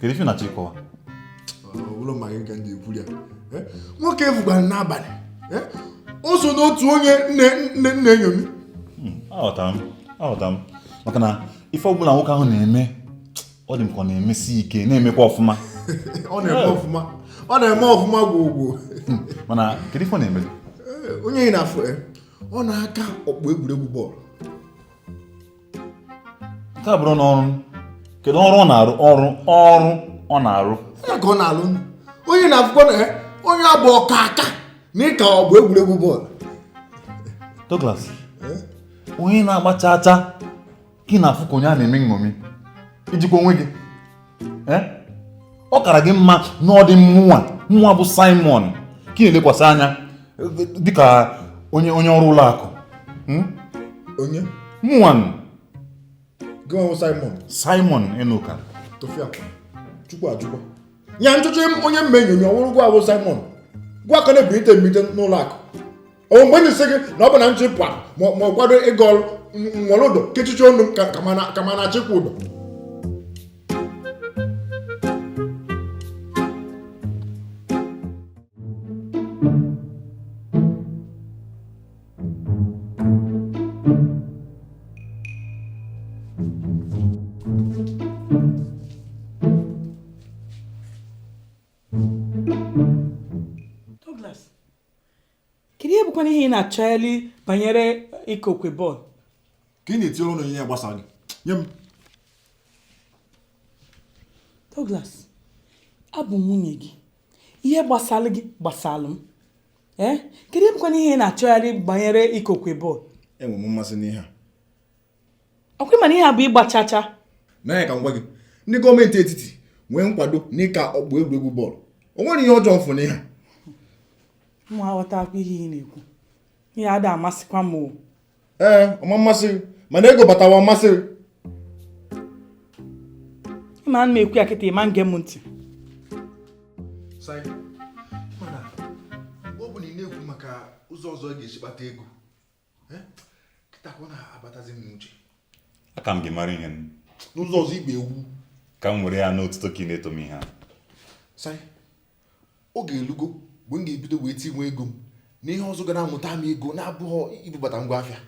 kedu ife ị na-achọ ịkọwa ụlọ maka nke ndị ekwuru ya eh? nwoke ị fụkwara n'abalị eh? o so n'otu onye m na-eme nṅomi hmm, aghọtara m aghọtara m maka na ife ọbụla nwoke ahụ na-eme ọ dị m ka ọ na-emesi ike na-emekwa ọfụma ọ na-eme ọfụma ọ na-eme ọfụma gwogwo hmm, mana kedu ife ọ na-eme eh, onye ị na-afụ ọ na-aka ọkpụ egwuregwu bọọlụ nke a bụrụ n'ọrụ kedu ọrụ ọ na-arụ ọrụ ọrụ ọ na-arụ ya ka ọ na-alụnu onye na-afụkwa na ya onye a bụ ọkaaka na ịka ọkpụ egwuregwu bọọlụ Douglas onye na-agba chacha ka ị na-afụ ka onye a na-eme nṅomi i jikwa onwe gị eh? ọ kara gị mma na ọ dị mụwa nwa bụ Simon ka ị na-elekwasị anya dịka onye onye ọrụ ụlọ akụ hmm? onye mụwa gị wụ Simon Simon Enuka tufia chukwu ajụkwa ya nchọcha onye m na-eṅomi ọ wụrụ gịwa wụ Simon gịwa ka na-ebirite mbite n'ụlọ akụ o mgbe na-esi gị na ọ bụ na m chịpụ ma ma ọ kwado ịga ọrụ m were ụdọ kechichi ọnụ m ka ka m na- ka m na-achịkwa udo kedu ihe bụkwanụ ihe ị na-achọghali banyere ịkụ okwe bọọlụ ka ị na-etinye ọnụ ihe gbasara gị nye m Douglas abụ m nwunye gị ihe gbasara gị gbasara m ee kedu ihe bụkwanụ ihe ị na-achọghali banyere ịkụ okwe bọọlụ enwe m mmasị n'ihe a ọkwa ị ma na ihe a bụ ịgba chacha nwaanyị ka m gwa gị ndị gọọmenti etiti nwee nkwado n'ịka ọkpụ egwuregwu bọọlụ o nwere ihe ọjọọ m fụ n'ihe mụ aghọtakwa ihe ị na-ekwu ihe a ada amasịkwa m o ee ọ ma amasị gị mana ego batawa ọ masị gị ma ana m ekwu ya kịta ị ma ege m ntị ọ bụ na ị na-ekwu maka ụzọ ọzọ ọ ga-esi kpata ego aka m gị mara ihe n'ụzọ ọzọ ị bụ ewu ka m were ya na otuto ka ị na-eto m ihe a oge elugo mgbe m ga-ebido wee tinwe ego m na ihe ọzọ ga na-amụta m ego na-abụghị ibubata ngwa afịa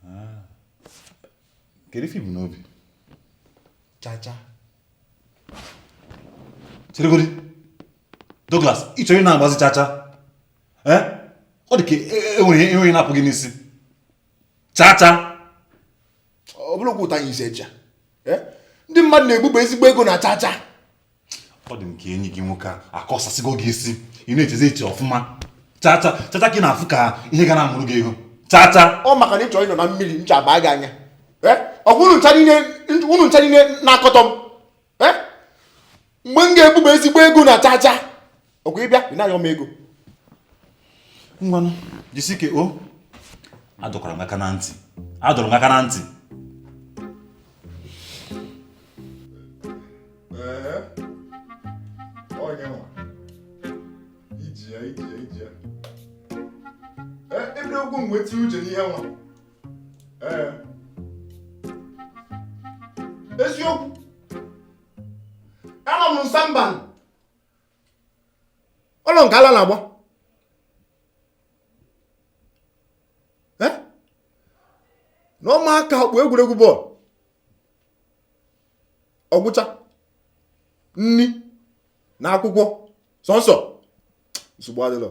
ah. kedu ife i bu n'obi chacha cheregodi Douglas ị chọrọ ị na-agbazi chacha eh? ọ dị ka e nwere ihe na-apụ gị n'isi chacha ọ bụrụ okwu ụta anyị isi echa eh? ndị mmadụ na-ebuba ezigbo ego na chacha ọ dị m ka enyi gị nwoke a akọsasịgo gị isi ị na-echezi eche ọfụma chacha chacha ka ị na-afụ ka ihe ga na-amụrụ gị ego chacha ọ maka na ị chọrọ ịnọ na mmiri ncha abaa gị anya eh? ọkwa unu ncha niile na-akọtọ m eh? mgbe m ga-ebuba ezigbo ego na chacha ọkwa ị bịa ị na-ayọ m ego ngwanụ jisike o adọkwara m aka na ntị adọrọ m aka na ntị nweta uche n'ihe nwa eziokwu anụ m na samba ụlọ nke ala na-agba na ọ ma aka ọkpụ egwuregwu bọọlụ ọgwụcha nri na akwụkwọ sọnsọ nsogbu adịlọ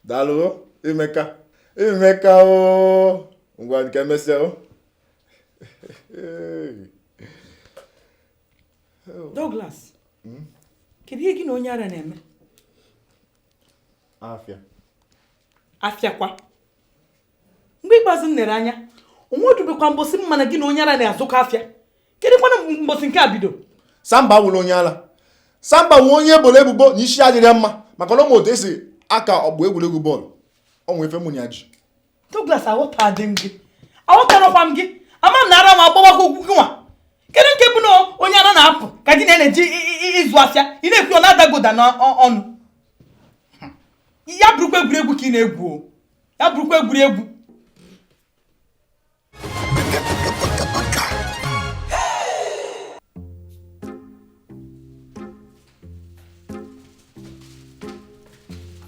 daalụ imeka imeka o ngwa ka emesịa o Douglas hmm? kedu ihe gị na onye ara na-eme afịa afịakwa mgbe ikpeazụ m nere anya onwe odubekwa mbosi m ma na gị na onye ara na-azụkọ afịa kedu kwana mbosi nke a bido samba wụrụ onye ala samba nwe onye eboro ebubo na isi adịrọ ya mma maka na ọ ma otu esi aka ọgbụ egwuregwu bọọlụ o nwe ife mụ na ya ji Douglas aghọtadị m gị aghọtarakwa m gị ama m na ara m agbawakwa okwu gị nwa kedu nke bụ na onye ara na-apụ ka di na na-eji ịzụ afịa ị na-ekwu ọ na-adagoda n'ọnụ ya bụrụkwa egwuregwu ka ị na-egwu ya bụrụkwa egwuregwu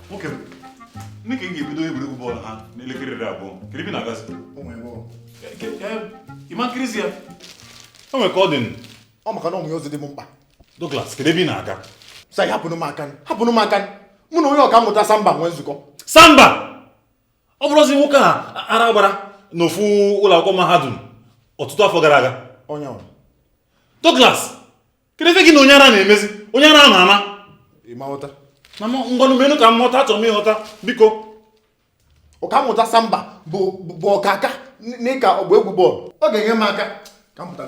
nwoke m ndị ka ị ga-ebido egwuregwu bọọlụ ha n'elekere iri abụọ kedu ebe ị na-agazi ị ma kirizi ya o nwere ka ọ dị m ọ maka na ọ nwere ozi dị m mkpa Douglas kedu ebe ị na-aga sa hapụnụ m aka hapụnụ m aka mụ na onye ọkammụta samba nwe nzukọ samba ọ bụrọzi nwoke a ara gbara n'ofu ụlọ akwụkwọ mahadum ọtụtụ afọ gara aga Douglas kedu ife gị na onye ara na-emezi onye ara ama ama na ngwanụ menụ ka m ghọta achọrọ m ịghọta biko ọkammụta samba bụ ọkaka n'ịka ọgba egwu bọọlụ ọ ga-enye m aka ka m pụta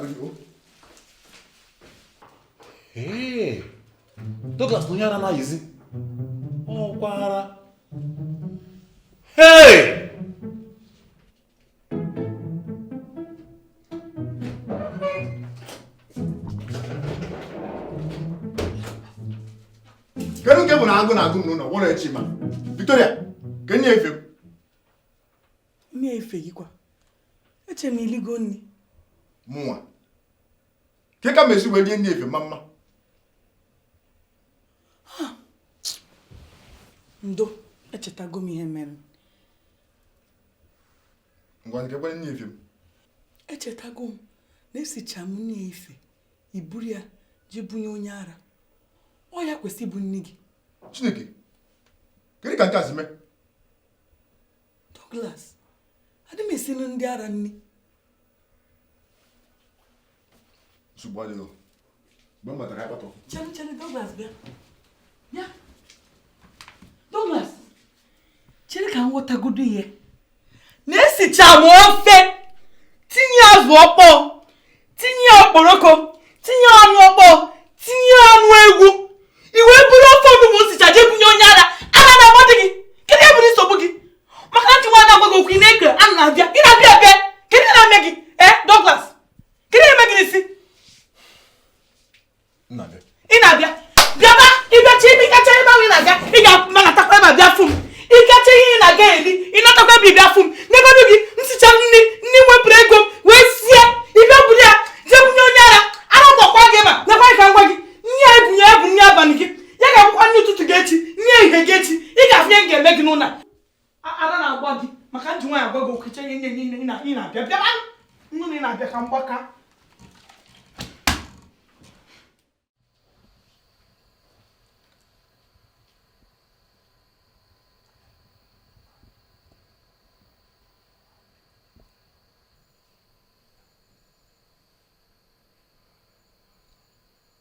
Douglas na onye ara na-ayịzi ọkwa ara hey! kedu nke bụ na agụụ na-agụ m n'ụlọ gwọrọ echi ma Victoria kedu nri efifie m nri efifie gị kwa eche m iligo nri mụnwa kee ka m si wee rie nri efifie mma mma ndo echetago m ihe mere ngwanụ kee kwanụ nri efifie m echetago m na esicha m nri efifie i buru ya jee bunye onye ara ọ ya kwesị ịbụ nri gị chineke kedu ka nke a si mee Douglas adị m esiri ndị ara nri nsogbu adịghị mgbe m batara akpatọ chere chere Douglas bịa bịa Douglas chere ka m ghọtagodo ihe na-esicha m ofe tinye azụ ọkpọọ tinye okporoko tinye anụ ọkpọọ tinye anụ ewu i wee buru ofe onugbu m sicha jee bunye onye ara ara na-agbadị gị kedu ihe bụdị nsogbu gị maka na nchekwa na-agwa gị okwu ị na-eke a na-abịa ị na-abịa abịa kedu ihe na-eme gị ee Douglas kedu ihe na-eme gị n'isi ị na-abịa bịaba ị bịacha ebe ị gacha ebe ahụ ị na-aga ị ga-anatakwa ebe a bịa fụ m ị gacha ihe ị na-aga eri ị natakwa ebe a bịa fụ m negodu gị m sicha nri nri m wepụrụ ego m wee sie i wee buru ya jee bunye onye ara ara gbakwa gị ma nekwa ka m gwa gị nri a i bunye ya bụ nri abalị gị ya ga-abụkwa nri ụtụtụ gị echi nri ehihie gị echi ị ga-afụ ihe m ga-eme gị n'ụlọ a ara na-agba gị maka m ji nwayọ agwa gị okwu cha ihe nye nye ị na-abịa bịa nnu na ị na-abịa ka m gbaka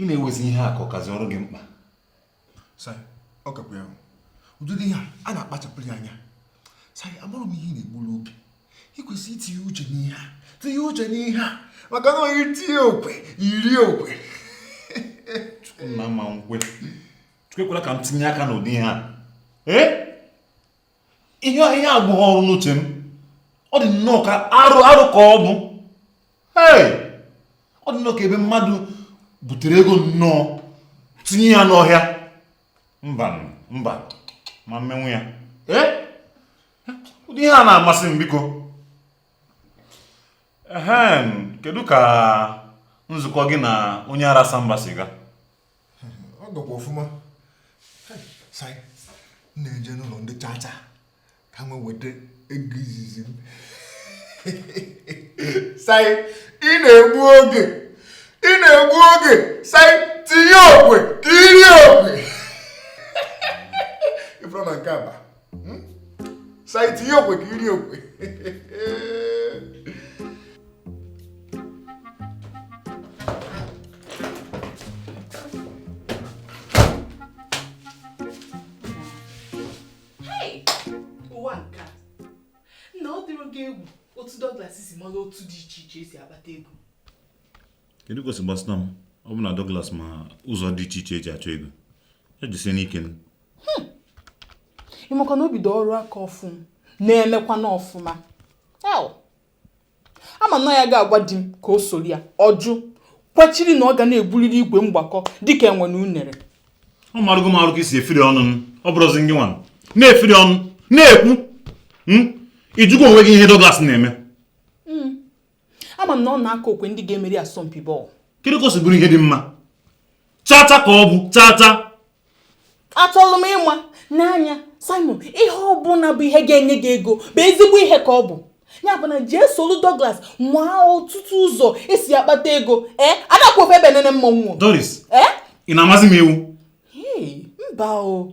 ị na-ewezi ihe a ka ọ kazi ọrụ gị mkpa sir ọ kakwa ya ụdị ihe a na-akpachapụrụ ya anya sir abụrụ m ihe na-egburu oge ị kwesịrị itinye uche n'ihe a tinye uche n'ihe a maka na onye tinye okwe o rie okwe nna ama m kwe Chukwu ekwela ka m tinye aka n'ụdị ihe a ee ihe ihe abụghị ọrụ n'uche m ọ dị nnọọ ka arụ arụ ka ọ bụ ee ọ dị nnọọ ka ebe mmadụ butere ego nnọọ tinye ya n'ọhịa mba mba ma m menwu ya ee ụdị ihe a na-amasị m biko ehem kedu ka nzukọ gị na onye ara Samba si gaa ọ gakwa ọfụma Sai m na-eje n'ụlọ ndị chacha ka m nweta ego izizi m Sai ị na-egbu oge ị na-egbu oge Sai tinye okwe ka i rie okwe ị fụrọ na nke a aba hmm? Sai tinye okwe ka i rie okwe he ụwa nka nọ ọ dịrọ gị egwu otu Douglas si mara otu dị iche iche e si akpata ego kedu ka o si gbasata m ọ bụ na Douglas ma ụzọ dị iche iche e ji achọ ego ya jisie n'ike hmm. ị makwa na o bido ọrụ aka ọfụụ na-emekwanụ ọfụma ama na ya ga-agwa di m ka o soro ya ọ jụ kwechiri na ọ ga na-ebuliri igwe mgbakọ dịka enwe na unere ọ marụgo m arụ ka i si efiri ọnụ m ọ bụrụzi ngị nwa na-efiri ọnụ na-ekwu hmm? ị jụgo onwe gị ihe Douglas na-eme ama m na ọ na-aka okwe ndị ga-emeri asọmpi bọọlụ kedu ka o si bụrụ ihe dị mma chacha ka ọ bụ chacha achọrọ m ịma n'anya Simon ihe ọ bụla bụ ihe ga-enye gị ego bụ ezigbo ihe ka ọ bụ ya bụ na jee solu Douglas nwaa ọtụtụ ụzọ e si akpata ego ee ada akwụ ofu ebe enene mmọnwụ Doris ee ị na-amazi m iwu mba o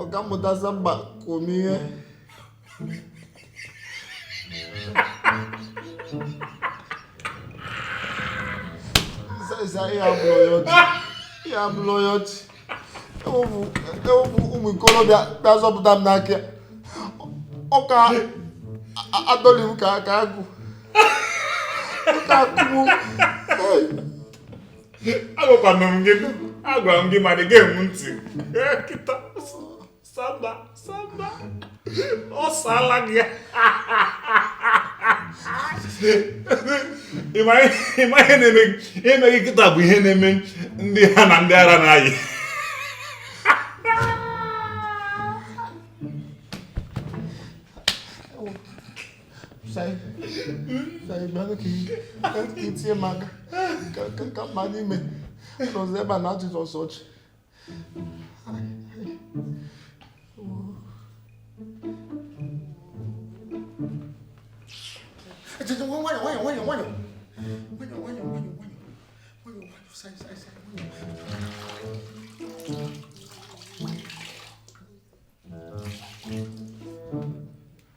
ọkammụta Samba kụọ m ihe sịsa ihe a abụrọ ihe ọchị ihe a abụrọ ihe ọchị e wepụ ụmụ ikorobịa bịa zọpụta m n'aka ya ọ ka adọli m ka agụ ọ ka akụgbu agwakwanụ m gị agwara m gị ma ị dị egenwu ntị kịta Samba Samba ọ saala gị ị ma ihe na-eme gị kịta bụ ihe na-eme ndị ha na ndị ara na-ayị itinye m aka ka mma n'ime n'ụzọ ebe a na ajụjụ ọsọ ọchị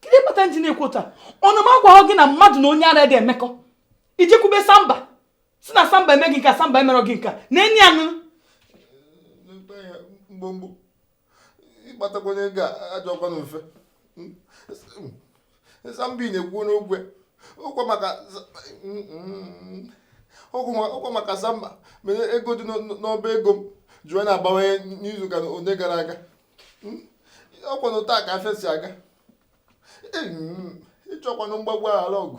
kedu kpata nji na-ekwu otu a ọ na m agwahọ gị na mmadụ na onye ara adị emekọ ị je-ekwube samba sị na samba mee gị nke a samba emerọ gị nke a na enyi anụ mgbomgbo ịkpatakwa onye ga-ajọ ọkwa na mfe samba ị na-ekwu n'ogwe ọkwa maka ọkwa maka samba mere ego dị n'ọba ego m ji wee na-abawanye n'izu ụka ole gara aga hmm? ọkwanụ otu a ka afịa si aga hmm, ejirọkwanụ mgbagbu aghara ọgụ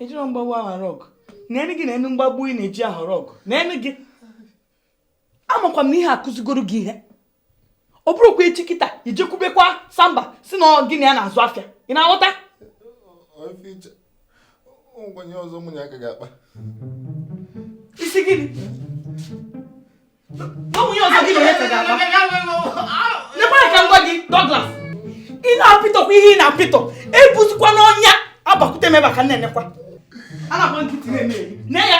ejirọ mgbagbu aghara ọgụ neenụ gị neenụ mgbagbu ị na-eji aghara ọgụ neenụ gị amakwa m na ihe a akụzigoro gị ihe ọ bụrụkwa echi kịta ị je-ekwubekwa samba sị na gị na ya na-azụ afịa ị na-aghọta ọzọ mụ na ya ga-akpa ị sị gịnị ihe ọzọ gị na onye ka ga-akpa nekwa ka m gwa gị Douglas ị na-apịtọkwa ihe ị na-apịtọ ebuzikwana ọnya abịakwute m ebe a ka m na-enekwa ana m nkịtị na-eme na ya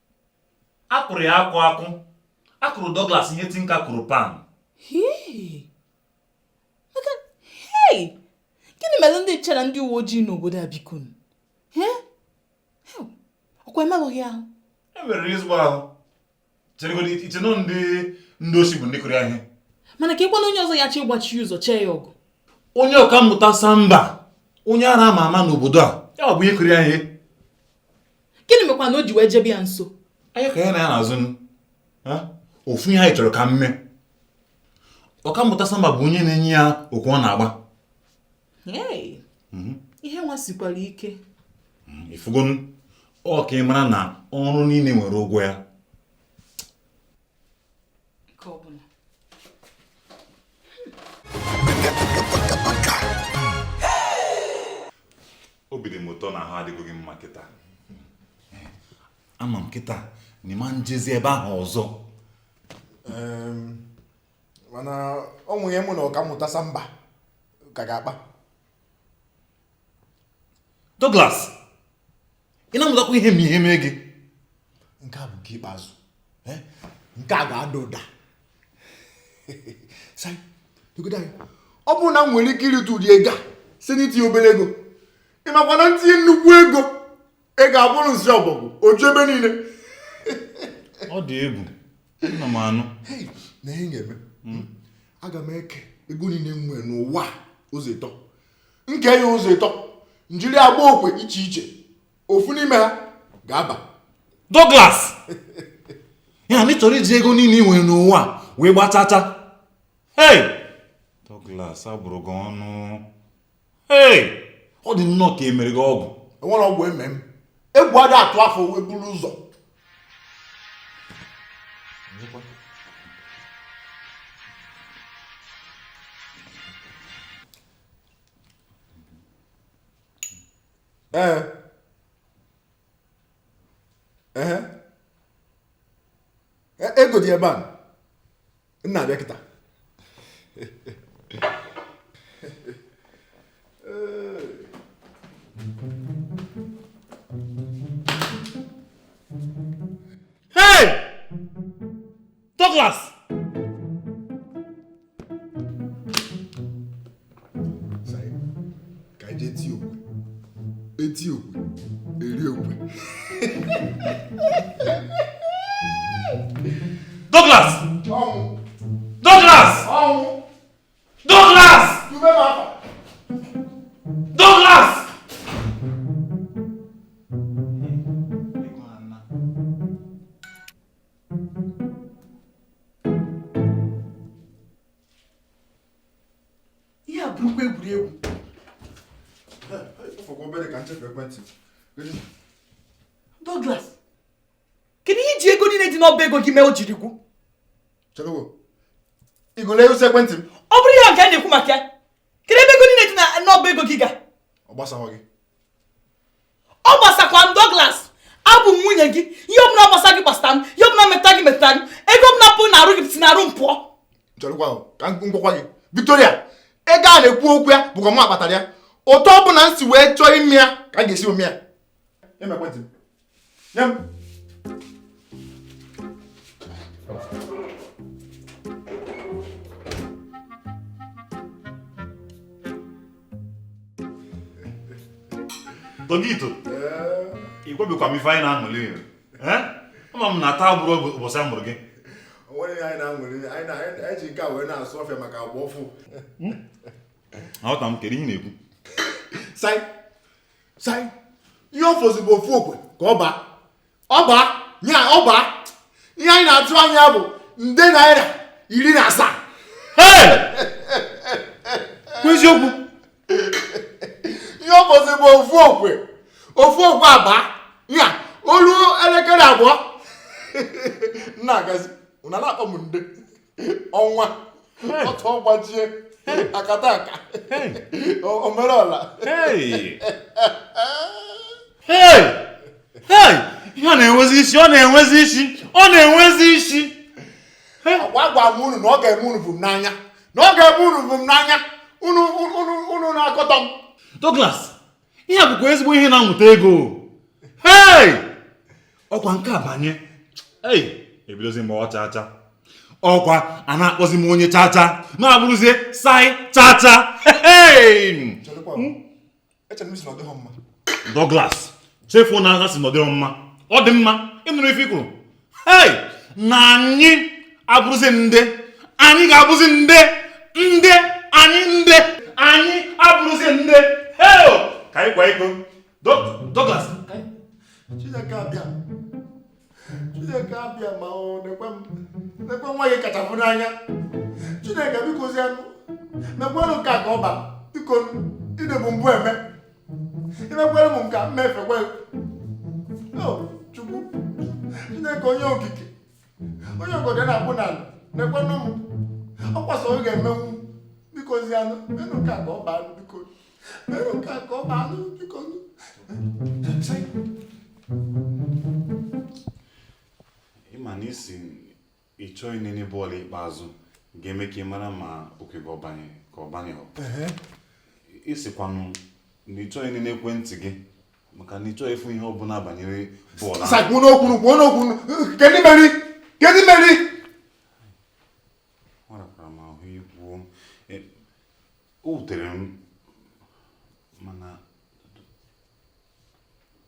a kụrụ ya akụ akụ a kụrụ Douglas ihe tinka kụrụ pan gịnị mere ndị nche na ndị uwe ojii n'obodo a biko ọkwa emerụghị ahụ emerụrụ ezigbo ahụ i che na ọ ndị ndị osi bụ ndị kụrụ ya ihe mana keekwanụ onye ọzọ ya chi ịgbachi ụzọ chee ya ọgụ onye ọkammụta samba onye ara a ma ama n'obodo a ya bụ ihe kụrụ ya ihe gịnị mekwanụ o ji wee jebe ya nso anyị ka ya na ya na-azụ ofu ihe anyị chọrọ ka mme ọkammụta samba bụ onye na-enye ya okwe ọ na-agba mhm. ihe nwa sikwara ike mhm, ifugonu ọ ka ị mara na ọrụ niile nwere ụgwọ ya nke ọbụla obi dị m ụtọ na ahụ adịgo gị mma kịta ama m kịta na ị ma njezi ebe ahụ ọzọ mana o nwe ihe mụ na ọkammụta samba ka ga-akpa Douglas ị na-amụtakwa ihe ma ihe mee gị nke a bụ nke ikpeazụ eh? nke a ga-ada ụda ọ bụrụ na m nwere ike irite ụdị ego a si n'itinye obere ego ị makwa na m tinye nnukwu ego ị ga-abụrụ nsi ọbọgwụ oju ebe niile ọ dị egwu nna m anụ na ihe m ga-eme hmm. aga m eke ego niile m nwere n'ụwa ụzọ ịtọ m kee ya ụzọ ịtọ m jiri gbaa okwe iche iche ofu n'ime ha ga-aba Douglas ya na ị chọrọ iji ego niile ị nwere n'ụwa wee gbaa chacha hey Douglas a bụrụ gị ọnụ hey ọ dị nnọọ ka e mere gị ọgwụ enwerọ ọgwụ e me m egwu ada atụ afọ wee buru ụzọ ee ee ego dị ebe a nna abịa kịta Hey! Douglas! ka ije ti okwe eti okwe eri okwe Douglas Douglas Douglas Douglas ihe a bụrụkwa egwuregwu fọkwa obere ka nchekwa ekwentị Douglas kedu ihe i ji ego niile dị n'ọba ego gị mee o jiri gwụ chegodu igole ego ekwentị m ọ bụrọ ya ka a na-ekwu maka ya kedu ebe ego niile dị n'ọba ego gị ga ọ gbasaghọ gị ọ gbasakwa m Douglas abụ m nwunye gị ihe ọbụla gbasa gị gbasara m ihe ọbụla meta gị meta gị ego ọbụla pụ na arụ gị si na arụ m pụọ m gwakwa gị Victoria ego a na-ekwu okwu ya bụkwa mụ kpatara ya otu ọbụla m si wee chọọ ime ya ka a ga-esi eme ya Togito, ị gwabikwa m ife anyị na-aṅụli ama m na taa abụrọ ụbọchị a mụrụ gị o nwere ihe anyị na-aṅụli anyị ji nke a wee na-asụ ọfịa maka agwa ọfụ hmm? aghọta m kedu ihe ị na-ekwu sai sai ihe ọ fọzi bụ ofu okwe ka ọ baa ọ baa ya ọ baa ihe anyị na-atụ anya bụ nde naira iri na asaa eziokwu ihe ọ bụzi bụ ofu okwe ofu okwe aba ya o lue elekere abụọ na-agazi unu ana-akpọ m nde ọnwa ọtụ ọgbajie akataka o merela ihe ọ na-enwezi isi ọ na-enwezi isi ọ na-enwezi isi agwago m unu na ọ ga-eme unu vum n'anya na ọ ga-eme unu vum n'anya unu na-akọtọ m Douglas ihe a bụkwa ezigbo ihe na-amụta ego hei ọkwa nke a banye ei ebidozi m gbawa chacha ọkwa a na-akpọzi m onye chacha m abụrụzie Sir chacha hei Douglas chefuo na a sị na ọ dịghị mma ọ dị mma ị nụrụ ife i kwuru hei na anyị abụrụzi ndị anyị ga-abụzi ndị ndị anyị ndị anyị abụrụzi ndị heo ka anyị kwa iko Douglas Chineke abịa Chineke abịa m o nekwe m nekwe nwa gị kachapụ n'anya Chineke bikozianụ mekwanụ nke a ka ọ baa biko ị dịbu mbụ eme i mekwere m nke a mmefekwe chukwu chineke onye okike onye ogodo na-akpụ n'ala nekwenụ m ọkwa sọ gị ga-emenwu bikozianụ menụ nke a ka ọ baa biko menụ nke a ka ọ baa biko ị ma na ị sị ị chọghị inene bọọlụ ikpeazụ ga-eme ka ị mara ma oke gị ọ banye ka ọ banyeghị ị sịkwanụ na ị chọghị inene ekwentị gị maka na ị chọghị ịfụ ihe ọbụla banyere bọọlụ ahụ. sakwu n'okwu kwuonụ okwu kedu meri kedu meri ọ rakwara m ahụ ikwu o E, o wutere m mana